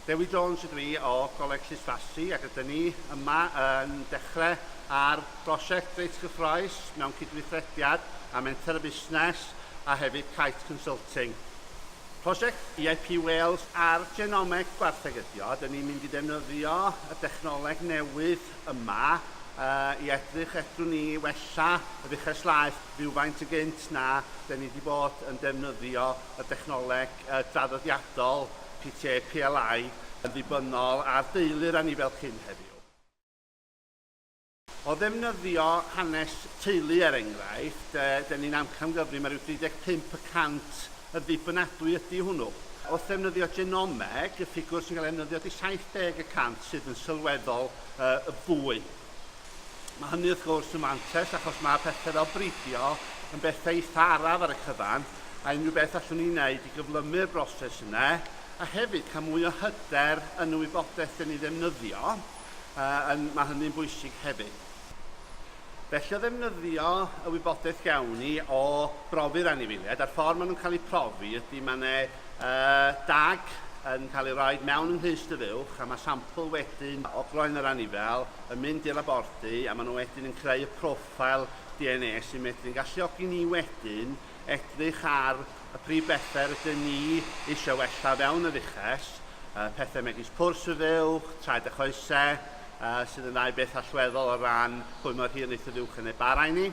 Dewi Jones ydw i o Goleg Llysfasi ac rydyn ni yma yn dechrau ar brosiect reit gyffroes mewn cydweithrediad â Menter y Busnes a hefyd Kite Consulting. Prosiect EIP Wales ar Genomeg Gwartheg ydi o, dyn ni'n mynd i ddefnyddio y dechnoleg newydd yma i edrych fedrwn ni wella yr uchelslaeth rywfaint yn gynt na 'den ni wedi bod yn defnyddio y dechnoleg draddodiadol PTA PLI yn ddibynnol ar deulu'r anifail cyn heddiw. O ddefnyddio hanes teulu er enghraifft, 'den ni'n amcangyfrif mae rhyw 35 y cant yn ddibynadwy ydi hwnnw. Wrth ddefnyddio genomeg, y ffigwr sy'n cael ei ddefnyddio ydi 70 y cant sydd yn sylweddol yy fwy. Mae hynny wrth gwrs yn fantes achos mae pethau fel bridio yn bethau eitha araf ar y cyfan a unrhyw beth allwn ni wneud i gyflymu'r broses yna a hefyd cael mwy o hyder yn y wybodaeth dyn ni ddefnyddio, yy, yn, mae hynny'n bwysig hefyd. Felly o ddefnyddio y wybodaeth gawn ni o brofi'r anifeiliaid a'r ffordd maen nhw'n cael eu profi ydy mae yna uh, dag yn cael ei roi mewn yn rhys dy fuwch a mae sampl wedyn o groen yr anifel yn mynd i'r labordy a maen nhw wedyn yn creu y profile DNA sy'n medru'n galluogi ni wedyn edrych ar y prif bethe rydyn ni eisiau wella fewn yr uches, uh, pethe megis pwrs y fuwch, traed a choese, uh, sydd yn ddau beth allweddol o ran pwy mor hir neith y fuwch yn ei barai ni,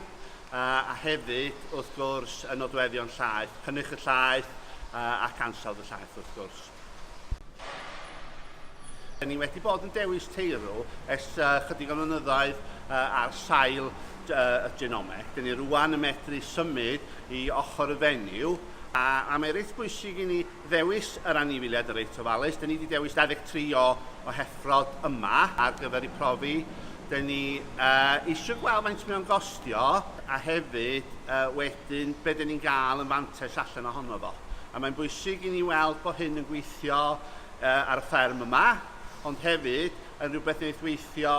uh, a hefyd, wrth gwrs, y nodweddion llaeth, cynnyrch y llaeth uh, ac ansawdd y llaeth, wrth gwrs. Da ni wedi bod yn dewis teirw ers uh, chydig o flynyddoedd uh, ar sail uh, y genome. Da ni rwan yn medru symud i ochr y fenyw a, a mae reit bwysig i ni ddewis yr anifiliad yn reit ofalus. Da ni wedi dewis 23 o, o heffrod yma ar gyfer ei profi. Da ni uh, eisiau gweld faint mae'n gostio a hefyd uh, wedi Wedyn, be 'dyn ni'n gael yn fantais allan ohono fo? A mae'n bwysig i ni weld bod hyn yn gweithio ar y fferm yma, ond hefyd yn rhywbeth wneith weithio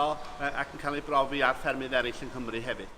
ac yn cael ei brofi ar ffermydd eraill yng Nghymru hefyd.